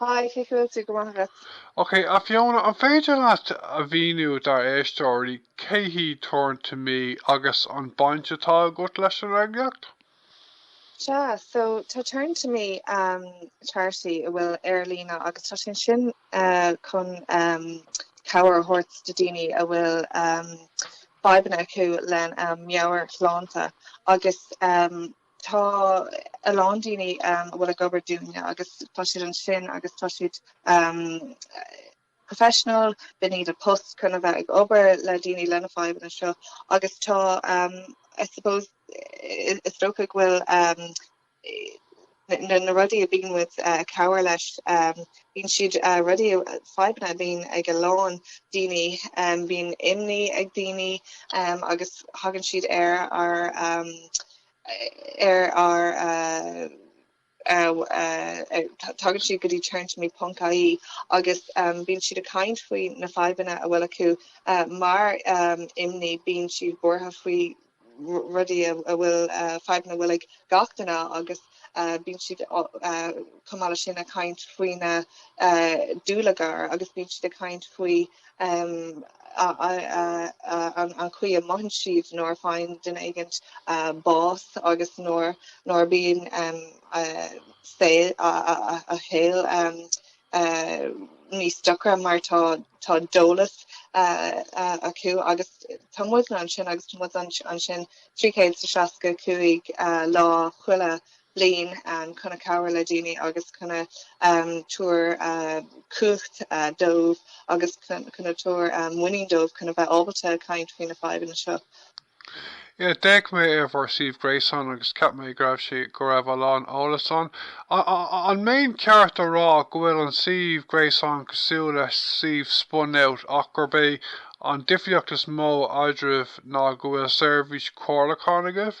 Haigh, cén chaoi a bhfuil tú? Go maith agus. Ok, a Fiona, an féidir leat a mhíniú dár éisteoirí cé hí Turn to Me agus an baint atá agat leis an eagraíocht? Sea, so tá Turn to Me um, charity a bhfuil ar líne agus tá sé ansin uh, chun um, cabhair a thabhairt do daoine a bhfuil um, fadhbanna acu lena um, meabhairshláinte agus um, Tá a lán daoine a bhfuil ag obair dúinne agus tá siad ansin agus tá siad professional, bíonn sé ina post chun a bheith ag obair le daoine lena fadhbanna seo agus tá I suppose is dócha go bhfuil na rudaí a bhíonn muid ag cabhair leis bíonn siad rudaí fadhbanna a bhíonn ag a lán daoine bíonn imní ag daoine agus thagann siad ar ár ar ár dtagann siad go dtí turntome.ie agus bíonn siad ag caint faoi na fadhbanna a bhfuil acu mar imní bíonn siad buartha faoi rudaí a bhfuil fadhbanna a bhfuil ag gach duine agus bíonn siad chomh maith leis sin ag caint faoi an dúlagar agus bíonn siad ag caint faoi an chaoi a mothaíonn siad nuair a faigheann duine éigint bás agus nuair bíonn saol a shaoil níos deacra mar tá dólás acu agus tá muid ansin agus tá muid ansin 365 lá chuile bliain chun cabhair le daoine agus chun a tabhair cumhacht dóibh agus chun a tabhair muinín dóibh chun a bheith ábalta caint faoi na fadhbanna seo. Yaa, d'fhéach mé ar bhur suíomh gréasáin agus cheap mé go raibh sé, go raibh a lán eolas ann. An mbeinn ceart a rá go bhfuil an suíomh gréasáin cosúil le suíomh Spunout ach gurb é an difríocht is mó eadraibh ná go bhfuil seirbhís comhairleacháin agaibh?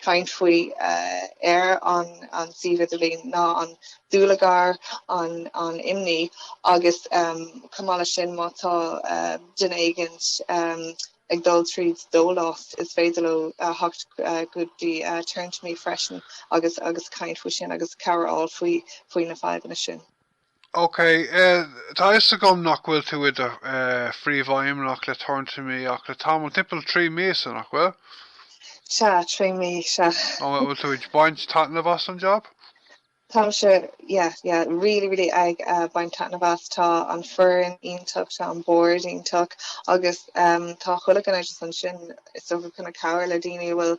caint faoi ar an suíomh idirlín ná an dúlagar, an imní agus chomh maith leis sin má tá duine éigint ag dul tríd dólás is féidir leo theacht go dtí Turn to me freisin agus caint faoi sin agus cabhair a fháil faoi na fadhbanna sin. OK, tá a fhios agam nach bhfuil tú i do phríomhfheidhmeannach le Turn to Me ach le tamall, timpeall trí míosa, nach bhfuil? Sea, trí mí, sea. An bhfuil tú ag baint taitneamh as an jab? Táimse, yeah, yeah, really, really ag baint taitneamh as. Tá an foireann iontach, tá an bord iontach agus tá chuile dhuine ansin is dócha chun cabhair le daoine a bhfuil,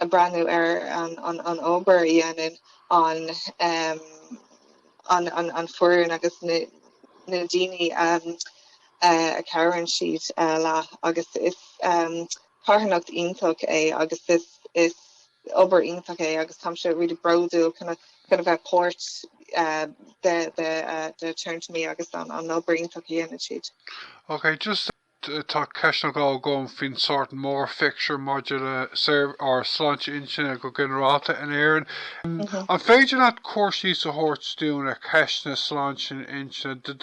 ag breathnú ar an obair a dhéanann an an an foireann agus na na daoine a a cabhraíonn siad leat agus is carthanacht iontach é agus is is obair iontach é agus táim se really bródúil chun chun a bheith páirt de de de Turn to Me agus an an obair iontach a dhéanann siad. Okay, just. Tá ceist eile agam faoin sórt mór phictiúr maidir le ár sláinte intinne go ginearálta in Éirinn. An féidir leat cur síos a thabhairt dúinn ar cheist na sláinte intinne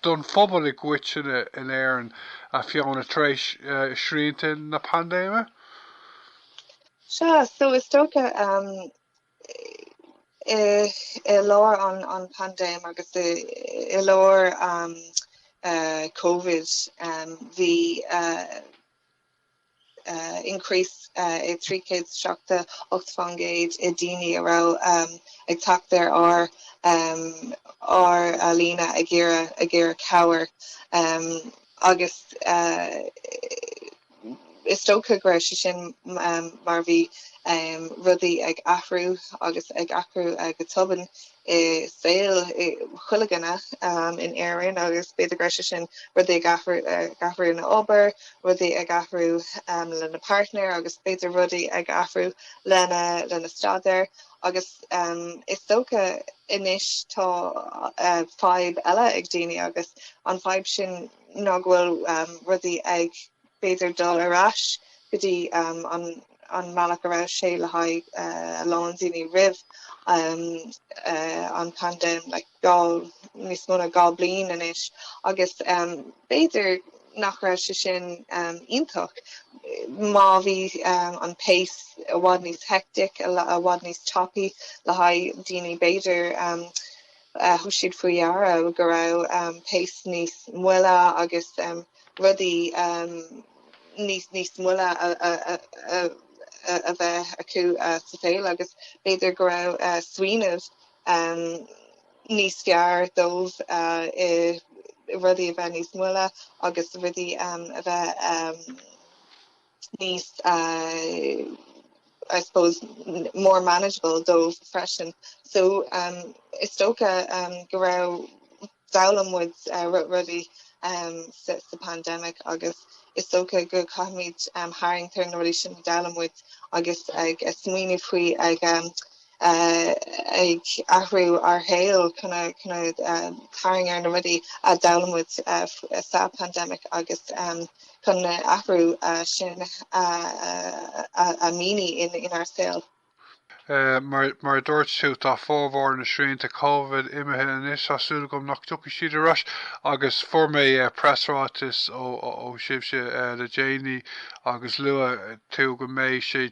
don phobal i gcoitinne in Éirinn, a Fiona, tar éis shrianta na paindéime? Sea, so is dócha I lár an phaindéim agus i lár Covid bhí increase de 378% i daoine a raibh ag teacht ar ár líne ag iarraidh cabhair agus Is dócha go raibh sé sin mar bhí rudaí ag athrú agus ag athrú go tobann i saol chuile dhuine in Éirinn agus b'fhéidir go raibh sé sin rudaí ag athrú ina obair, rudaí ag athrú lena partner agus b'fhéidir rudaí ag athrú lena staidéar agus is dócha anois tá fadhb eile ag daoine agus an fadhb sin ná go bhfuil rudaí ag b'fhéidir dul ar ais go dtí an mbealach a raibh sé le haghaidh a lán daoine roimh an bpaindéim níos mó ná dhá bliain anois agus b'fhéidir nach raibh sé sin iontach mar bhí an pace i bhfad níos hectic i bhfad níos tapaí le haghaidh daoine b'fhéidir. thug siad faoi deara go raibh pace níos moille agus rudaí níos moille a bheith acu sa saol agus b'fhéidir go raibh smaoineamh níos fearr dóibh i rudaí a bheith níos moille agus rudaí a bheith. níos I suppose more manageable dóibh freisin so um is dócha um go raibh d'fhoghlaim muid uh, ru- rudaí um, sa, sa pandemic agus is dócha go gcaithfimid um, tharraingt ar na rudaí sin a d'fhoghlaim muid agus ag uh, smaoineamh faoi ag um, ag athrú ár shaol chun a chun a tarraingt ar na rudaí a d'fhoghlaim muid sa paindéim agus chun na athrú sin a mhíniú inár saol. Mar a dúirt tú, tá formhór na srianta Covid imithe anois, tá súil agam nach dtiocfaidh siad ar ais agus fuair mé preasráiteas ó sibhse le déanaí agus luaigh tú go mbeidh sé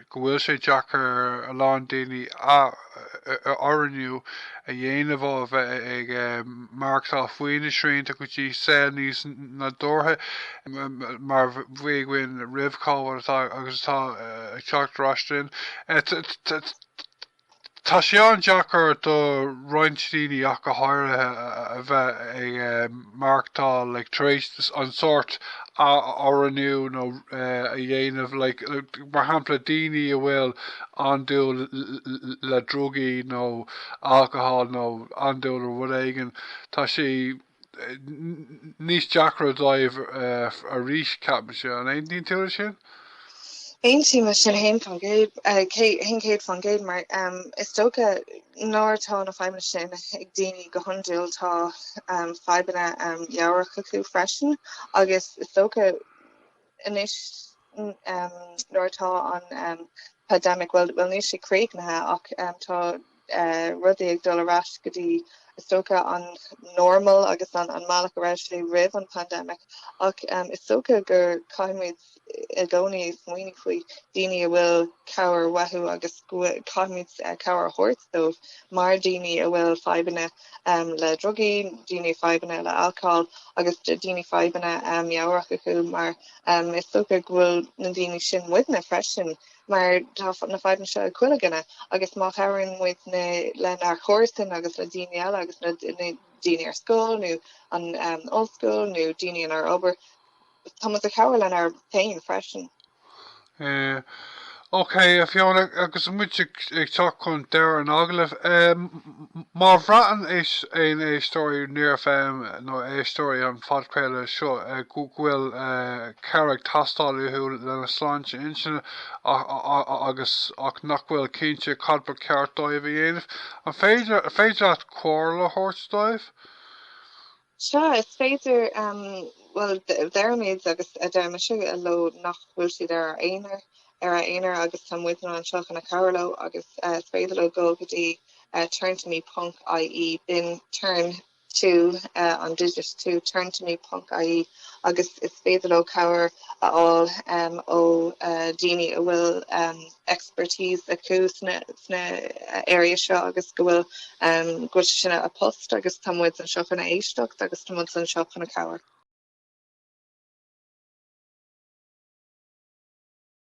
go bhfuil sé deacair ar a lán daoine athoiriúnú a dhéanamh ó a bheith ag maireachtáil faoi na srianta go dtí saol níos nádúrtha mar a bhí againn roimh Covid agus atá ag teacht ar ais linn. Tá sé an-deacair do roinnt daoine ach go háirithe a bheith ag maireachtáil like tar éis an sórt a oiriúnú a dhéanamh like mar shampla daoine a bhfuil andúil le drugaí nó alcohol nó andúil i rud éigin tá sé níos deacra dóibh arís, ceapaimse. An aontaíonn tú leis sin? Aontaím leis sin 100%. Mar is dócha nuair atá na fadhbanna sin ag daoine go hiondúil, tá fadhbanna mheabhrach acu freisin agus is dócha Anois nuair atá an paindéimic, bhuel níl sé críochnaithe ach tá rudaí ag dul ar ais go dtí is dócha an normal agus an mbealach a raibh sé roimh an paindéimic ach is dócha gur caithfimid i gcónaí smaoineamh faoi daoine a bhfuil cabhair uathu agus caithfimid cabhair a thabhairt dóibh mar daoine a bhfuil fadhbanna. le drugaí, daoine fadhbanna le alcól agus daoine fadhbanna meabhrach acu mar is dócha go bhfuil na daoine sin muidne freisin mar tá na fadhbanna seo ag chuile dhuine agus má chabhraíonn muid lenár chomharsan agus le daoine eile agus le daoine ar scoil nó an ollscoil nó daoine inár obair Tá muid ag cabhair lenár féin freisin. Yeah. OK, a Fhiona, agus muid ag ag teacht chun deireadh an agallaimh, em, má bhraitheann aon éisteoirí Near FM nó éisteoirí an phodchraolta seo eh go go bhfuil eh cabhair ag teastáil uathu lena sláinte intinne a- a- a- a- agus ach nach bhfuil cinnte cad ba cheart dóibh a dhéanamh, an féidir féidir leat comhairle a thabhairt dóibh? Sea, is féidir, bhuel, deirimid agus deirimse leo nach bhfuil siad ar a aonar, ar a aonar agus tá muidne anseo chun a chabhair leo agus is féidir leo dul go dtí turntome ponc ie, then turn two an digit two turntome ponc ie agus is féidir leo cabhair a fháil ó dhaoine a bhfuil. expertise acu sna sna areas seo agus go bhfuil um go bhfuil sin é a bpost agus tá muid anseo chun a éisteacht agus tá muid anseo chun a cabhair.